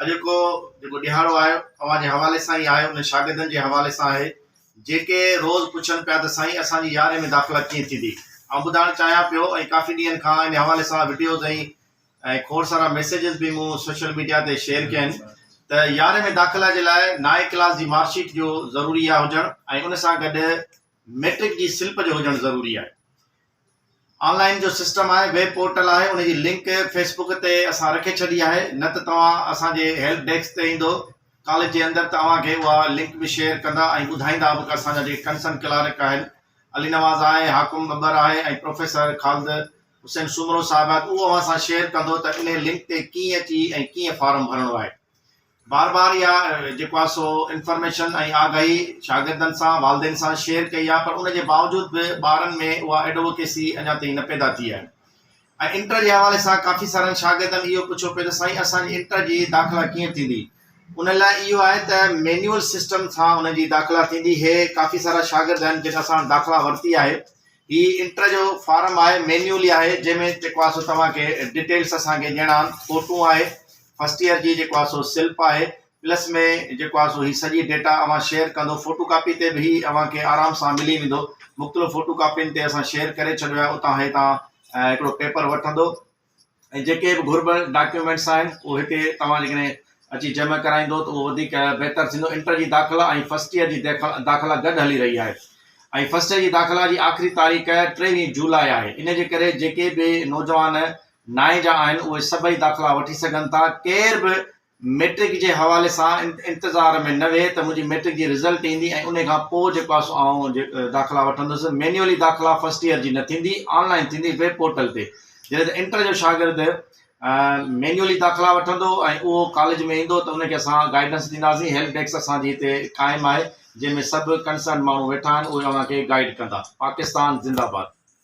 اڄوڪو جيڪو ڏهاڙو آيو اوهان جي حوالي سان ئي آهي انهن شاگردن جي حوالي سان آهي جيڪي روز پڇن پيا ته سائين اسان جي يارهين ۾ داخلا ڪيئن ٿيندي آئون ٻڌائڻ چاهيان پيو ۽ ڪافي ڏينهن کان ان حوالي سان وڊيوز ۽ ۽ کوڙ سارا ميسيجز به مون سوشل ميڊيا تي شيئر ڪيا آهن ته يارهين ۾ داخلا جي لاء نائين ڪلاس جي مارڪ شيٽ جو ضروري آهي هجڻ ۽ ان سان گڏ ميٽرڪ جي سلپ جو هجڻ ضروري آهي آن لائين جو سسٽم آهي ويب پورٽل آهي ان جي لنڪ فيسبڪ تي اسان رکي ڇڏي آهي نه ته توهان اسان جي هيلپ ڊيسڪ تي ايندو ڪاليج جي اندر ته اوهان کي اها لنڪ به شيئر ڪندا ۽ ٻڌائيندا به ڪه اسان جا جيڪي ڪنسرن ڪلارڪ آهن علي نواز آهي حاڪم ٻٻر آهي ۽ پروفيسر خالد حسين سومرو صاحب آهي اهو اوهان سان شيئر ڪندو ته انهي لنڪ تي ڪيئن اچي ۽ ڪيئن فارم ڀرڻو آهي بار بار اها جيڪو آهي سو انفارميشن ۽ آگاهي شاگردن سان والدين سان شيئر ڪئي آهي پر ان جي باوجود به ٻارن ۾ اها ايڊووڪيسي اڃا تائين نه پيدا ٿي آهي ۽ انٽر جي حوالي سان ڪافي سارن شاگردن اهو پڇيو پيو ته سائين اسان جي انٽر جي داخلا ڪيئن ٿيندي ان لاء اهو آهي ته مينيول سسٽم سان ان جي داخلا ٿيندي هي ڪافي سارا شاگرد آهن جن اسان داخلا ورتي آهي هي انٽر جو فارم آهي مينيولي آهي جنهن ۾ جيڪو آسو توهان کي ڊيٽيلس اسان کي ڏيڻا آهن فوٽون آهي فرسٽ ايئر جي جيڪو آسو سلپ آهي پلس ۾ جيڪو آهي سو هي سڄي ڊيٽا اوهان شيئر ڪندو فوٽو ڪاپي تي به هي اوهان کي آرام سان ملي ويندو مختلف فوٽو ڪاپين تي اسان شيئر ڪري ڇڏيو آهي اتان هي تان هڪڙو پيپر وٺندو ۽ جيڪي به گهربل ڊاڪيومينٽس آهن اهو هتي توهان جيڪڏهن اچي جمع ڪرائيندو ته اهو وڌيڪ بهتر ٿيندو انٽر جي داخلا ۽ فرسٽ ايئر جي داخلا گڏ هلي رهي آهي ۽ فرسٽ ايئر جي داخلا جي آخري تاريخ ٽيويهه جولاء آهي ان جي ڪري جيڪي به نوجوان نائين جا آهن اهي سڀئي داخلا وٺي سگهن ٿا ڪير به مئٽرڪ جي حوالي سان انتظار ۾ نه ويهه ته منهنجي مئٽرڪ جي رزلٽ ايندي ۽ انهي کان پوء جيڪو آهي سو آئون داخلا وٺندس. مينيولي داخلا فرسٽ ايئر جي نه ٿيندي، آن لائن ٿيندي ويب پورٽل تي. جڏهن ته انٽر جو شاگرد مينيولي داخلا وٺندو ۽ اهو ڪاليج ۾ ايندو ته ان کي اسان گائيڊنس ڏينداسين. هيلپ ڊيسڪ اسان جي هتي قائم آهي جنهن ۾ سڀ ڪنسرن ماڻهو ويٺا آهن اهي اوهان کي گائيڊ ڪندا. پاڪستان زنده باد.